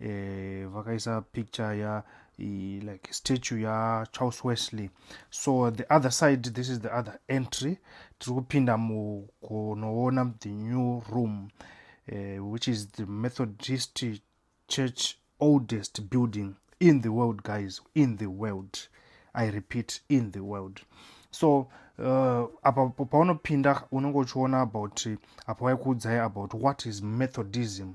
eh, vakaisa picture ya i, like statue ya charles wesley so the other side this is the other entry tiri kupinda mukunoona the new room eh, which is the methodist church oldest building in the world guys in the world i repeat in the world so uh, apa paunopinda unenge uchiona about apa waikuudzai about what is methodism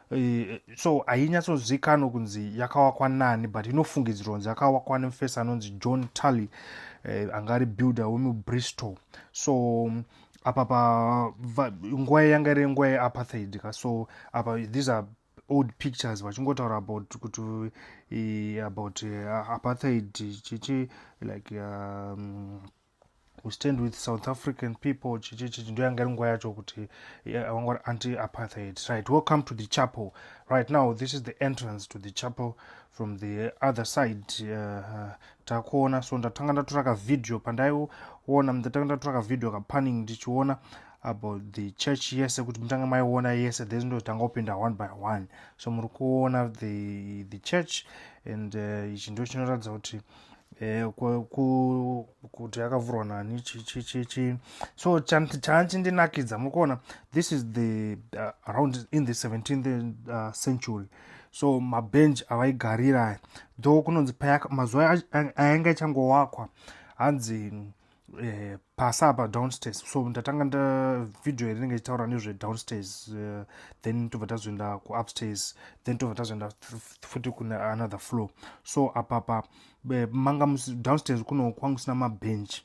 Eh, so hainyatsozivikanwa kunzi yakawakwa nani but inofungidzirwa kunzi yakawakwa nemufesi anonzi john tally eh, anga ari builder wemubristol so mm, apa pa nguva yanga iri nguva yeapartheid ka so apa these are old pictures vachingotaura about kuti eh, about apartheid chichi like um, we stand with south african people chichichichi ndo yanga iri nguva yacho kuti vanga ri anti apartheid right welcome to the chapel right now this is the entrance to the chapel from the other side uh, takuona so ndatanga ndatora kavideo pandaiona ndatanga ndatora kavideo kapanning ndichiona about the church yese kuti mutange maiona yese then ndotanga kupinda one by one so muri kuona the, the church and uh, ichi uh, ndo chinoratidza kuti Eh, kuti yakavhurwa nani chichichichi so chachindinakidza mukuona this is the uh, around in the 17th uh, century so mabench avaigarira though kunonzi mazuva ayange ichangovakwa hanzi eh, pasi apa downstairs so ndatanga nda video yarinenge ichitaura nezve downstairs uh, then tobva tazoenda kuupstairs then tobva tazoenda futi kune another floor so apapa eh, manga downstairs kuno kwanga kusina mabench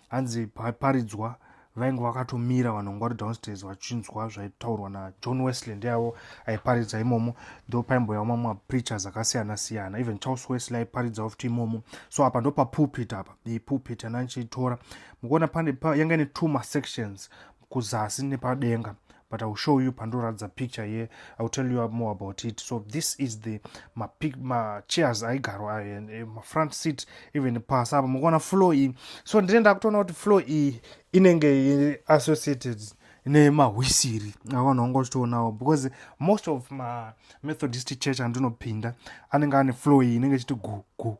hanzi paridzwa vainge vakatomira vanhu vanga vari downstairs vachinzwa zvaitaurwa najohn wesley ndeyavo aiparidza imomo ndo paimboyawo mamwe mapreachers akasiyana siyana even charles wesley aiparidzavo futi imomo so apa ndo papulpit apa the pulpit and anchitora mukuona pane yanga ine two masections kuzasi nepadenga but iwill show you pandoratidza picture here iwill tell you more about it so this is the machairs ma aigarwa ayo and eh, mafront seat even pasi apa mukuona floor iyi so ndine ndakutoona kuti floor iyi inenge associated nemahwisiri avanhu vanga vachitoonawo because most of mamethodist church andinopinda anenge ane floor iyi inenge ichiti gu gu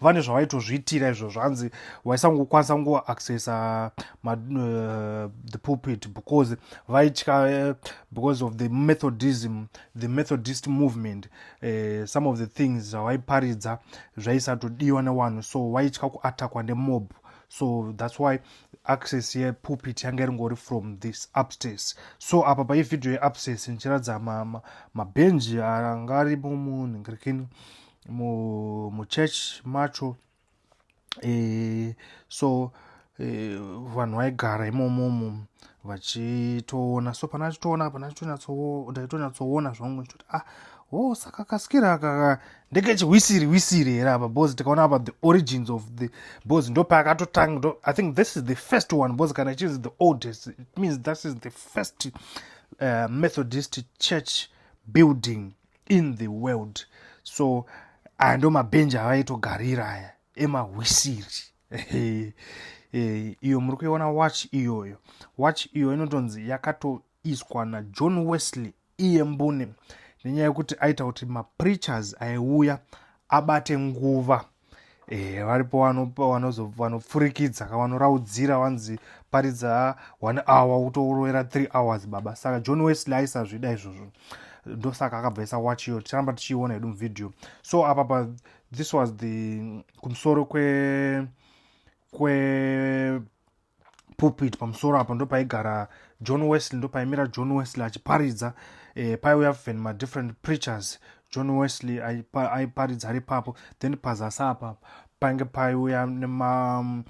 vane zvavaitozviitira izvo zvanzi vaisangokwanisa kungoaccessa uh, eh, the pulpit because vaitya uh, because of the methodism the methodist movement uh, some of the things zvavaiparidza zvaisatodiwa newanhu so vaitya kuatakwa nemob so thats why access yepulpit yanga iringori from this upstairs so apa pai vhidhiyo yeupstairs ndichiratidza mabhenji anga ari mumunhu ngirikini ma, ma muchurch macho e, so e, vanhu vaigara imomomo vachitoona so pana achitoona pana ndaitonyatsoona zvangu chitoti ah wo oh, saka kasikira akaka ndekechihwisiri hwisiri here apa bcause tikaona apa the origins of the bcause ndo paakatotanga ndo i think this is the first one bcause kana ichizi the oldest it means this is the first uh, methodist church building in the world so aya ndo mabhenji avaitogarira aya emahwisiri eh, iyo muri kuiona watch iyoyo watch iyo inotonzi yakatoiswa najohn wesley iye mbune nenyaya yekuti aita kuti mapreachers aiuya abate nguva Eh, varipo vanopfurikidza ka vanoraudzira vanzi paridza one hour utorovera three hours baba saka john wesley aisazvida izvozvo ndosaka akabva isa watch iyo ticharamba tichiiona hedu muvideo so apa pa this was the kumusoro kwe kwe pulpit pamusoro apo ndo paigara john wesley ndo paimira john wesley achiparidza eh, paiuya ven madifferent preachers john wesley aiparidza ari papo then pazasi apa painge paiuya nema mm,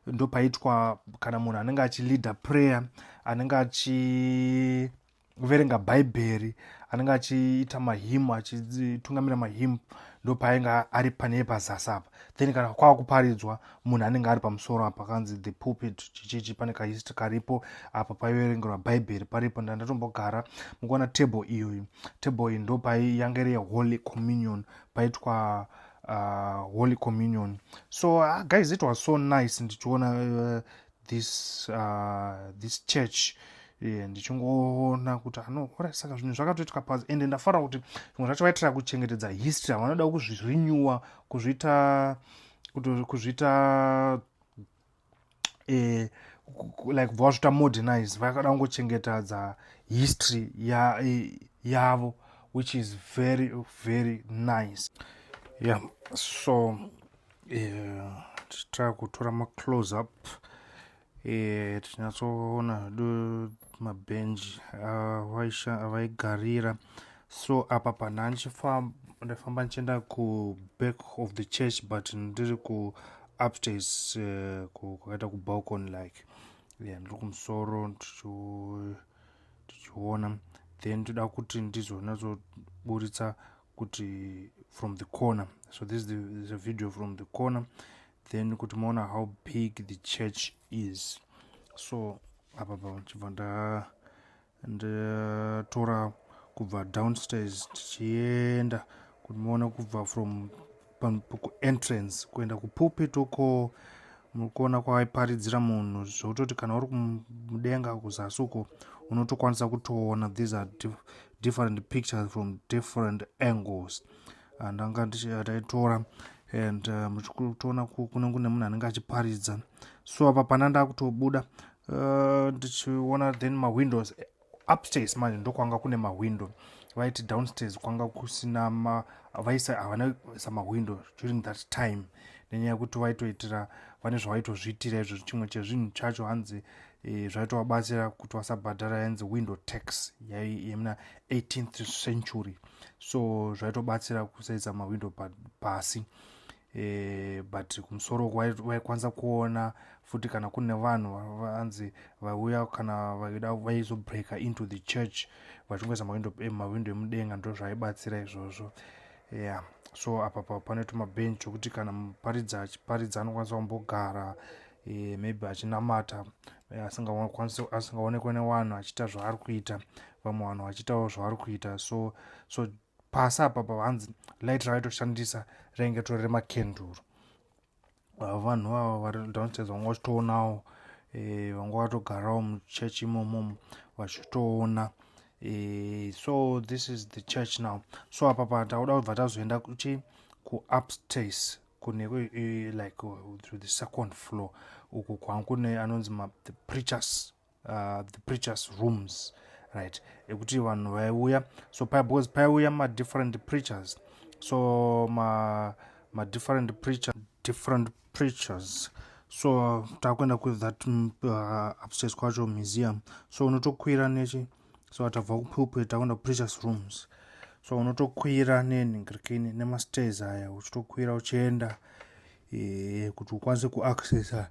ndo paitwa kana munhu anenge achileader prayer anenge achi kuverenga bhaibheri anenge achiita mahimu achitungamira mahimu ndo paainge ari panee pazasi apa then kana kwava kuparidzwa munhu anenge ari pamusoro apa kanzi the pulpit chichichi pane kahistory karipo apa paiverengerwa bhaibheri paripo ndandatombogara mukuona table iyoyi table iyi ndo pai yange iri yeholy communion paitwa uh, holy communion so uh, guys it was so nice ndichiona uh, this uh, this church eh, ndichingoona kuti anoora saka zvinhu zvakatoitika pazi ende ndafara kuti zvimwe zvacho vaitira kuchengetedza history havanoda kuzvirenewa kuzviita kuzviita eh, like bva vazviita modernize vakada kungochengetadza history ya, eh, yavo which is very very nice yeah so tichitraa kutora maclose up eh, tichinyatsoona do mabhenji avaigarira so apa pana ndifamba ndichienda kuback of the church but ndiri kuupstairs eh, kwakaita kubalcon like yeah, ndiri kumusoro tichiona then toda kuti ndizonatsoburitsa kuti from the corner so this is the, is a video from the corner then kuti maona how big the church is so apa pachibva ndatora kubva downstairs tichienda kuti maona kubva from kuentrance kuenda kupulpit uko mukuona kwaiparidzira munhu zvekutoti kana uri kumudenga kuzasi uko unotokwanisa kutoona these are different pictures from different angles ndanga ndichitaitora and uh, muchitoona kunenge kune munhu anenge achiparidza so apa pana ndakutobuda uh, ndichiona then mawindows upstairs manje ndokwanga kune mahwindo vaiti downstairs kwanga kusina ma vaisa havana isa mahwindo during that time nenyaya yekuti vaitoitira vane zvavaitozviitira izvo chimwe chezvinhu chacho hanzi e, zvaitovabatsira kuti vasabhadhara yanzi window tax yemuna 18th century so zvaitobatsira kusaisa mahwindo pasi pa e, but kumusoro vaikwanisa kuona futi kana kune vanhu vanzi vauya kana vaida vaizobreaker into the church vachingoisa eh, mawindo emudenga ndo zvaibatsira izvozvo yeah so apa pa panoitwa mabench okuti kana muparidzi achiparidza anokwanisa kumbogara e, maybe achinamata eh, asingaonekwe newanhu achiita zvaari kuita vamwe vanhu vachiitawo zvavari kuita so so pasi apa pavanzi light ravaitoshandisa rainge tori remakenduru ah, vanhu vava vari downstairs vanga vachitoonawo eh, vanga vatogarawo muchechi imomomo vachitoona eh, so this is the church now so apa pa takuda kubva tazoenda kuchi kuupstairs kune eh, like uh, through the second floor uku kwangu kune anonzi the preachers uh, the preachers rooms right ekuti vanhu vaiuya so paya because paiuya madifferent preachers so ma madifferent preacher different preachers so takuenda kuthat mm, uh, upstairs kwacho museum so unotokwira nechi so atabva kupulpit takuenda kupreachers rooms so unotokwira nenhingirikini nemastairs aya uchitokwira uchienda e, kuti ukwanise kuaccessa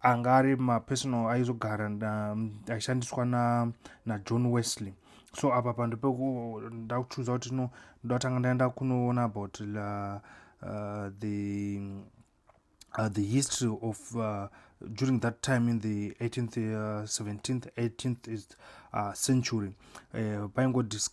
anga ari mapersonal aizogara aishandiswa najohn na wesley so apa pando peko ndakuchuza kuti no ndatanga ndaenda kunoona about la, uh, the, uh, the history of uh, during that time in the 18th uh, 17th 18th is, uh, century eh,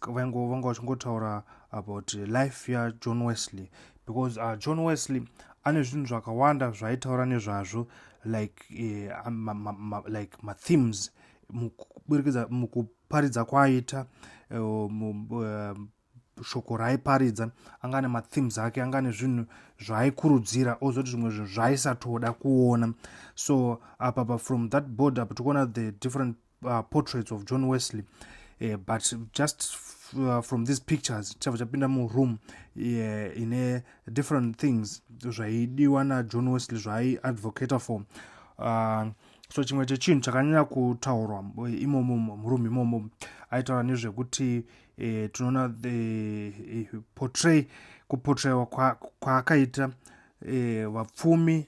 vaingovanga vachingotaura about life yajohn wesley uh, because uh, john wesley ane zvinhu zvakawanda zvaitaura nezvazvo like uh, ma, ma, ma, like mathemes mukuburikidza mukuparidza kwaaita uh, uh, shoko raaiparidza anga ane mathemes ake anga ane zvinhu zvaaikurudzira ozoti zvimwe zvinhu zvaaisatoda kuona so apapa from that board apa tikuona the different uh, portraits of john wesley uh, but just uh, from these pictures chava chapinda muroom uh, ine different things zvaidiwa najohn wesley zvaaiadvocator for uh, so chimwe chechinhu chakanyanya kutaurwa eh, imomo murume imomo aitaura nezvekuti e, tinoona e, portray kupotrayiwa kwaakaita e, vapfumi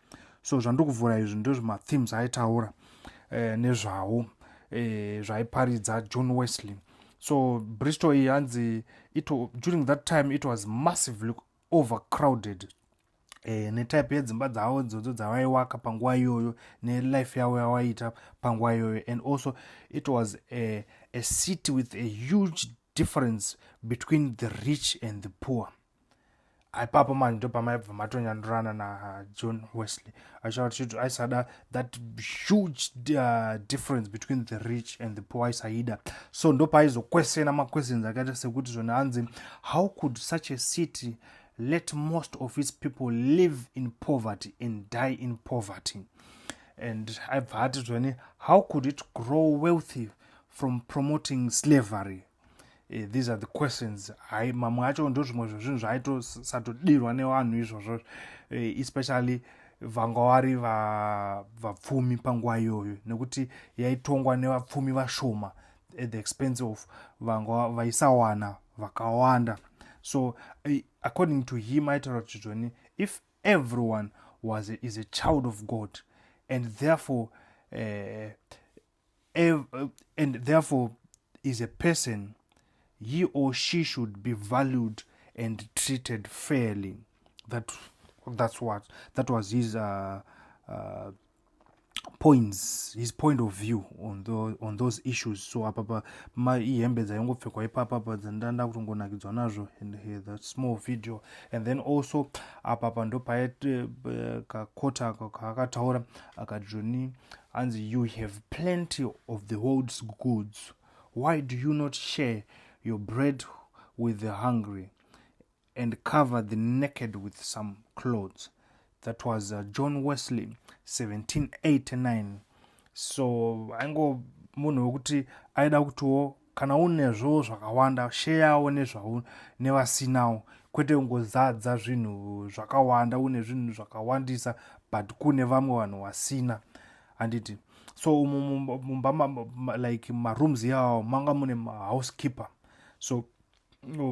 so zvandokuvhura izvi ndozvimathemes aitaura eh, nezvawo eh, zvaiparidza john wesley so bristol iyi hanzi during that time it was massively overcrowded e, netype yedzimba dzavo dzodzo dzavaiwaka panguva iyoyo nelife yavo yavaiita panguva iyoyo and also it was a, a city with a huge difference between the rich and the poor ipapo mani ndo pamaibva matonyandurana najohn uh, wesley achitaura tichiti aisada that huge uh, difference between the rich and the poor aisaida so ndo paaizokwesena maquestions akaita sekuti zvona hanzi how could such a city let most of its people live in poverty and die in poverty and aibva ati zvone how could it grow wealthy from promoting slavery eh, these are the questions hai mamwe acho ndo zvimwe zvezvinhu zvaitosatodirwa nevanhu izvozvo eh, especially vanga vari vapfumi va panguva iyoyo nekuti yaitongwa nevapfumi vashoma at the expense of vanga vaisawana vakawanda so eh, according to him aitaura kuti zvoni if everyone was a, is a child of god and therefore uh, Ev uh, and therefore is a person he or she should be valued and treated fairly that that's what that was his uh, uh, points his point of view on, the, on those issues so apapa ihembe dzaingopfekwa ipapapa dzandanda kutongonakidzwa nazvo and uh, that small video and then also apapa ndopaite uh, kakota kaakataura akajoni hanzi you have plenty of the world's goods why do you not share your bread with the hungry and cover the naked with some clothes that was uh, john wesley 1789 so aingo munhu wekuti aida kutiwo kana unezvo zvakawanda sheyawo nezvau nevasinawo kwete kungozadza zvinhu zvakawanda une zvinhu zvakawandisa but kune vamwe vanhu vasina handiti so mumba like marooms yawo manga mune mahousekeeper so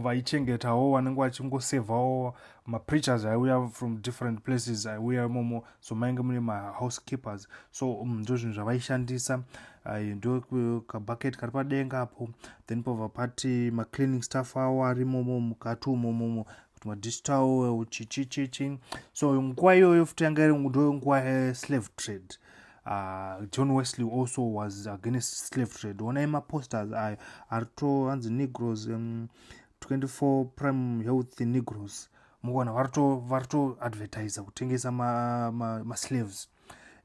vaichengetawo vanenge vachingosevhawo mapreachers aiuya from different places aiuya imomo so mainge mune mahousekeepers so um, ndo zvinhu zvavaishandisa ndo kabucket kari padenga apo then pava pati macleaning staff awo ari imomo mukati umomomo kuti madistal chichichichi so nguva iyoyo futi yanga iri ndo nguva yeslave trade Uh, john wesley also was against slave trade onai maposters ayo ari to hanzi negros um, 24 prime health negros mukuona vari to advertisa kutengesa maslaves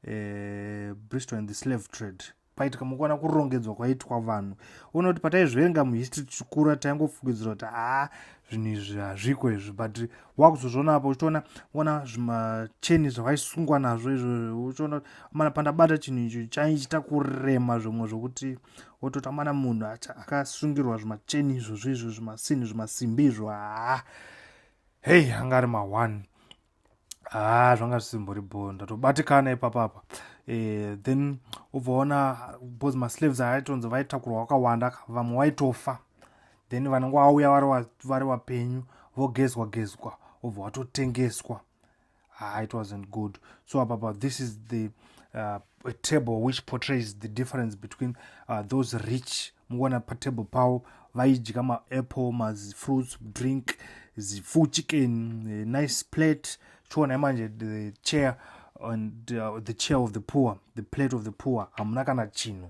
ma, ma eh, bristol and the slave trade paitika mukuona kurongedzwa kwaitwa vanhu ona kuti pataizviverenga muhistory tichikura taingofungidzira kuti haa zvinhu izvi hazviko izvi but wakuzozviona apo uchitoona ona zvimacheni zvavaisungwa nazvo izvo uchiona amana pandabata chinhu icho chaichita kurema zvimwe zvokuti wototi amana munhu akasungirwa zvimacheni izvozvo izvo zvimasini zvimasimbi izvo haa hei anga ari maone haa zvanga zvisimbori bho ndatobatikana ipapapa eh, then ubvaona bcause maslaves aaitonzi vaitakurwa wakawanda vamwe waitofa then vanenge vauya vari vapenyu vogezwa gezwa obva watotengeswa ah, it wasn't good so apapa this is the uh, a table which portrays the difference between uh, those rich mukuona patable pavo vaidya maapple mafruits drink zifu chicken eh, nice plate chiona imanje the chair and uh, the chair of the poor the plate of the poor hamuna kana chinhu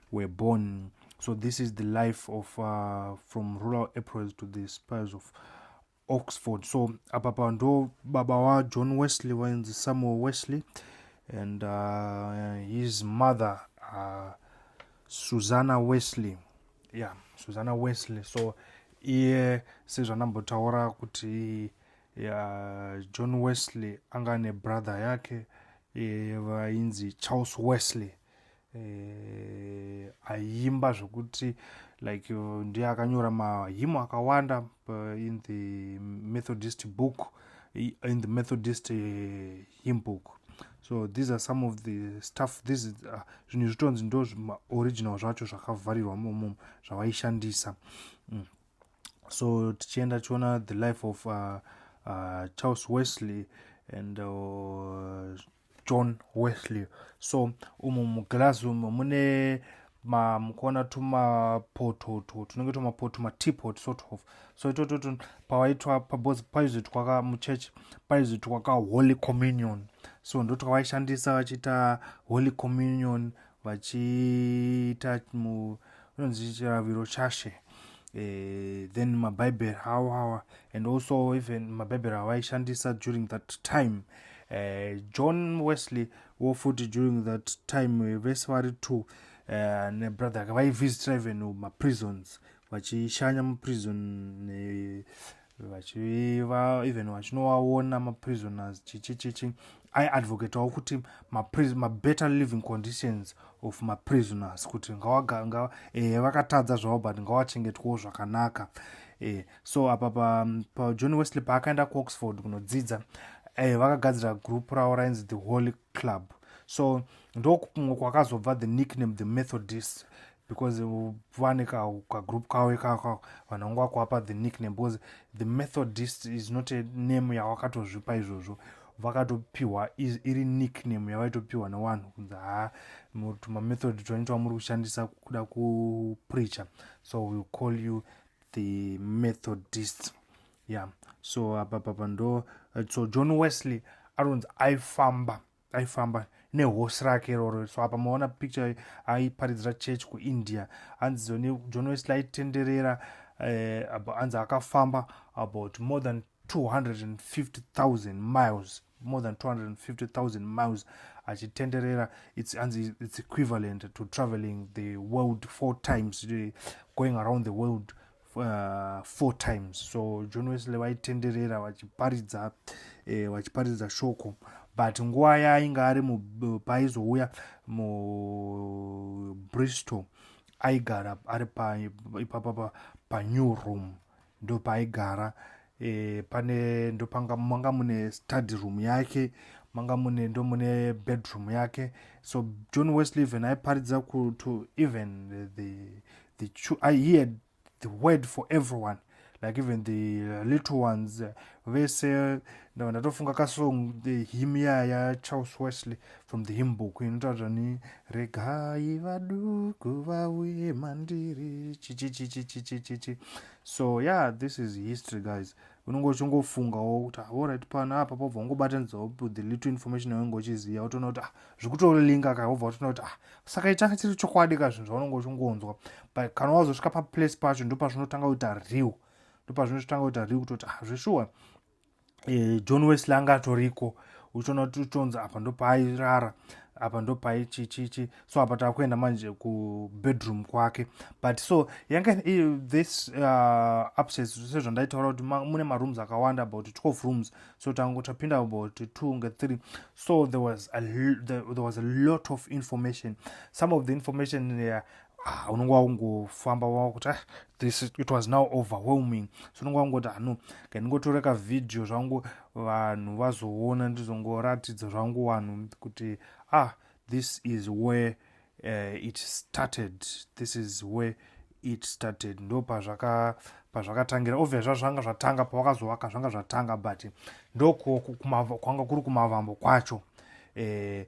were born so this is the life of uh, from rural aprils to the spires of oxford so apa pa ndo baba wajohn wesley vainzi samuel wesley and uh, his mother uh, susanna wesley yeah susanna wesley so iye sezvanambotaura kuti yeah, john wesley anga nebrother yake vainzi charles wesley eh, aimba zvokuti like ndiye akanyora mahimo akawanda eh, in the methodist book in the methodist uh, hymn book so these are some of the stuff this uh, zvinhu zvitonzi ndo original zvacho zvakavharirwa momo zvavaishandisa mm. so tichienda tichiona the life of uh, uh, charles wesley and uh, john wesley so umu muglazi umu mune mukuona tumapoto tunenge tumapoto matipot sort of so itototo pawaitwa pabos paizoitwa ka muchurch paizoitwa ka holy communion so ndotwavaishandisa vachiita holy communion vachiita unonzi chiraviro chashe eh, then mabhaibheri awo awa and also even mabhaibheri avaishandisa during that time eh, john wesley wo futi during that time eh, vese vari two eh, nebrother ake vaivisitra even maprisons vachishanya muprison ne, vachiva even vachinovaona maprisoners chichichichi aiadvocatawo kuti mabetter living conditions of maprisoners kuti ngawaga eh, vakatadza zvavo but ngawachengetwawo zvakanaka eh, so apa pajohn pa wesley paakaenda kuoxford kunodzidza eh, vakagadzira group ravo rainzi the holy club so ndokumwe kwakazobva the nickname the methodist because vane kagroup kavo ikako vanhu vangu vakuapa the nickname because the methodist is not a name yawakatozvipa izvozvo vakatopiwa iri nickname yavaitopiwa newanhu kunzi haa tumamethod twanoita wamuri kushandisa kuda kupreacher so will call you the methodist yeah so apapapa ndo so john wesley aronzi aifamba aifamba nehorse rake iroro so apa maona picture aiparidzira church kuindia hanzi journalist laitenderera eh, hanzi akafamba about more than 250000 miles more than 250000 miles achitenderera it's, hanzi it's equivalent to traveling the world four times eh, going around the world uh, four times so john wesley vaitenderera vachiparidza eh, vachiparidza shoko but nguva yaainge ari paizouya mubristol aigara ari ipapapa panew room ndopaaigara e, pane ndopanga manga mune study room yake manga mune ndo mune bedroom yake so john wesley even aiparidza to even the, the, the i hear the word for everyone like even the uh, little ones uh, vese ndatofunga kasong the him ya ya charles wesley from the him book inotaura ni regai vaduku vauye mandiri chichichichichichichichi so yeah this is history guys unenge uchingofungawo kuti aorit ah, pano apa pobva ungobatanidzawo the little information yaunenge uchiziva wotoona kuti ah zvikutolinga ka wobva watoona kuti ah saka itanga chiri chokwadi ka zvinhu zvaunenge uchingonzwa but kana wazosvika paplace pacho ndopazvinotanga kuita real ndopazvinotanga kuita real kutoti ah zveshuwa e, john wesley anga atoriko uchiona kuti utonzi apa ndopairara apa ndopai chichichi so apa takuenda manje kubedroom kwake but so yanga this uh, upstairs sezvandaitaura kuti mune marooms akawanda about 12 rooms so tango tapinda about two nge three so there was, a, there, there was a lot of information some of the information uh, ah, unenge wakungofamba wakuti ah, this it was now overwhelming so unenge wakungoti ano kandingotora kavhidhiyo zvangu vanhu vazoona ndizongoratidza zvangu vanhu kuti ah this is where uh, it started this is where it started ndo pazvakatangira obvious zva zvanga zvatanga pawakazovaka zvanga zvatanga but ndokwanga kuri kumavambo kwacho eh,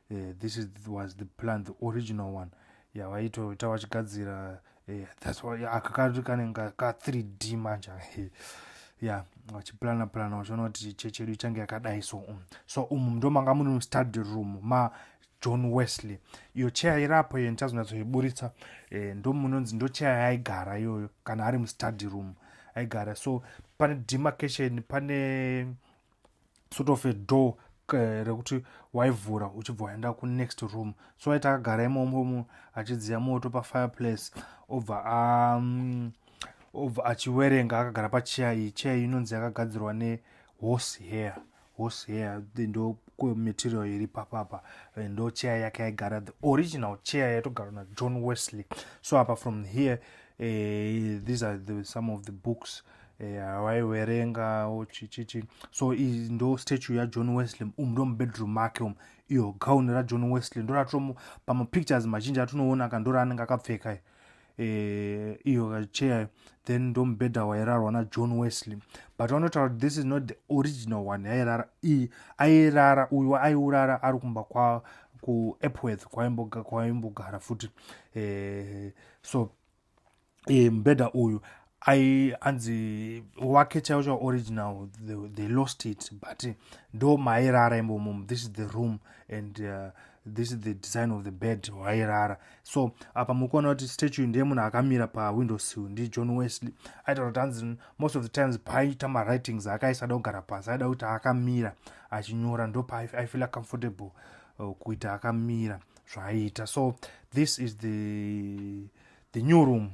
uh, this is, was the plan the original one yavaitoita yeah, vachigadzira uh, eh, thats why akakanzi kanenge ka 3 d manje ya yeah, vachiplana plana vachiona kuti chechi yedu ichange yakadai so um. so umu um, ndo manga mune study room ma john wesley iyo cheya irapo iyo ndichazonatsoiburitsa eh, ndo munonzi ndo cheya yaigara iyoyo kana ari mustudy room aigara so pane demarcation pane sort of a door eh, rekuti waivhura uchibva waenda kunext room so aita akagara imomomo achidziya moto pafireplace obva um, obva achiwerenga akagara pacheya iyi cheya iyi inonzi yakagadzirwa nehorse hair horse hair ndo material iri papapa eh, ndo chair yake yaigara the original chair yaitogarwa najohn wesley so apa from here uh, these are the, some of the books uh, eya waiwerenga chichichi so iyi ndo statue yajohn wesley umu ndo mubedroom make umu iyo gown rajohn wesley ndoratomu pamapictures mazhinji atinoona ka ndoraanenge akapfeka eh, iyo kacheyayo then ndo mubhedha wairarwa najohn wesley but vanotaura kuti this is not the original one yairara iyi airara uyu aiurara ari kumba kwa kuepworth kwaimbogara futi eh, so e, mubhedha uyu ai anzi wake chaiwo chaiwo original they, they lost it but ndo mairara imbomo this is the room and uh, this is the design of the bed wairara so apa muri kuona kuti statue ndiye munhu akamira pawindow sill ndijohn wesley aita kuti anzi most of the times paaita mawritings akaisada kugara pasi aida kuti akamira achinyora ndo paaifeela comfortable uh, kuita akamira zvaaiita so this is the, the new room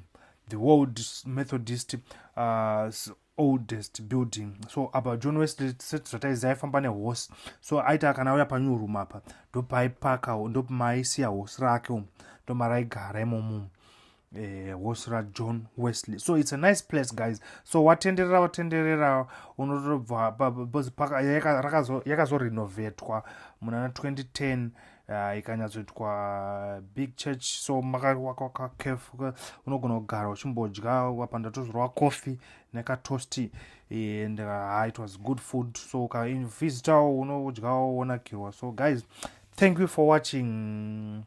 the world methodist uh, oldest building so apa john wesley sezvataizi aifamba nehorse so aita kana auya panew room apa ndopaipaka ndomaisiya horse rake umu ndomaraigara imomumu eh, wosra john wesley so its a nice place guys so watenderera watenderera unotobva yakazorenovetwa muna 2010 uh, ikanyatsoitwa big church so makawakakef unogona kugara uchimbodya wapa ndatozorwa coffee nekatosti and uh, it was good food so ukavisitawo unodyawo wonakirwa so guys thank you for watching